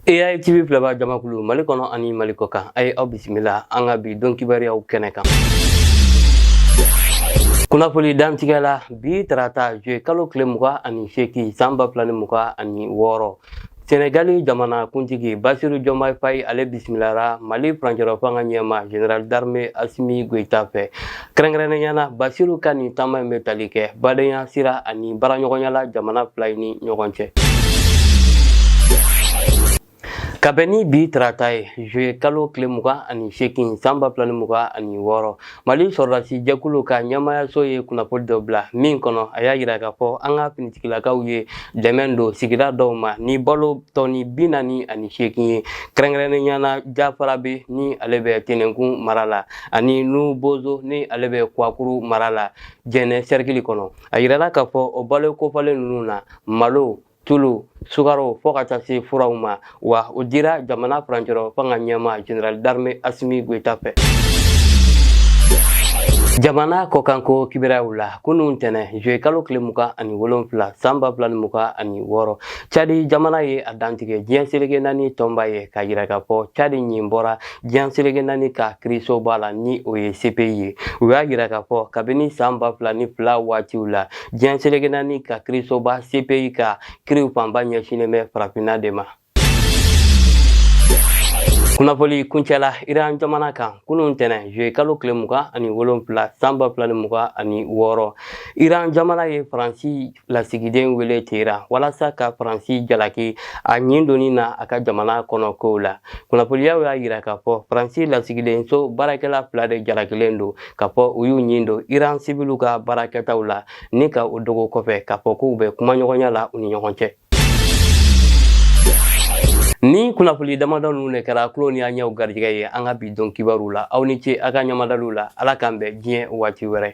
AI TV filɛbaa jamakulu Mali kɔnɔ ani Mali kɔkan a ye aw bisimila an ka bi don kibaruyaw kɛnɛ kan. Kunnafoni dantigɛ la bi tarata juye kalo tile mugan ani seegin san ba fila ni mugan ani wɔɔrɔ Senegali jamana kuntigi Basiru Jɔmayi Fayi ale bisimilara Mali furancɛlafanga ɲɛma Général d'armée Asimi Goyita fɛ kɛrɛnkɛrɛnnenya na basiru ka nin taama in bɛ tali kɛ badenya sira ani baaraɲɔgɔnya la jamana fila ni ɲɔgɔn cɛ ka bɛn ni bi tarata ye juye kalo tile mugan ani seegin san ba fila ni mugan ani wɔɔrɔ mali sɔrɔdasi jɛkulu ka ɲɛmayaso ye kunnafoni dɔ bila min kɔnɔ a y'a yira k'a fɔ an ka finitigilakaw ye dɛmɛ don sigida dɔw ma ni balo tɔni bi naani ani seegin ye kɛrɛnkɛrɛnnenya na jafarabɛ ni ale bɛ tɛnɛnkun mara la ani nu bozo ni ale bɛ kwakuru mara la jɛnɛ sɛrikili kɔnɔ a yirala k'a fɔ o balo kofɔlen ninnu na malo tulu sukaro fo ka taa se furaw ma wa o dira jamana furancɛlafanga ɲɛma général d'armée asimi goyita fɛ jamana kɔkanko kibaruw la kunun ntɛnɛn juye kalo tile mugan ani wolonfila san ba fila ni mugan ani wɔɔrɔ cadi jamana ye a dantigɛ diɲɛ seleke naani tɔnba ye k'a yira k'a fɔ cadi ɲin bɔra Diɲɛseleke naani ka kiirisoba la ni o ye CPI ye u y'a yira k'a fɔ kabini san ba fila ni fila waatiw la diɲɛseleke naani ka kiirisoba CPI ka kiiriw fanba ɲɛsinnen bɛ farafinna de ma. kunnafoli kuncɛla iran jamana kan kunun ntɛnɛn juye kalo tile mugan ani wolonfila san ba fila ni mugan ani wɔɔrɔ iran jamana ye faransi lasigiden wele teheran walasa ka faransi jalaki a ɲin donni na a ka jamana kɔnɔ kow la kunnafoniyaw y'a yira k'a fɔ faransi lasigidenso baarakɛla fila de jalakilen don k'a fɔ u y'u ɲin don iran sibiliw ka baarakɛtaw la ni ka o dogo kɔfɛ k'a fɔ k'u bɛ kumaɲɔgɔnya la u ni ɲɔgɔn cɛ nin kunnafoni damadɔ ninnu de kɛra tulo ni an ɲɛw garijɛgɛ ye an ka bi don kibaru la aw ni ce a ka ɲamadaliw la ala k'an bɛn diɲɛ waati wɛrɛ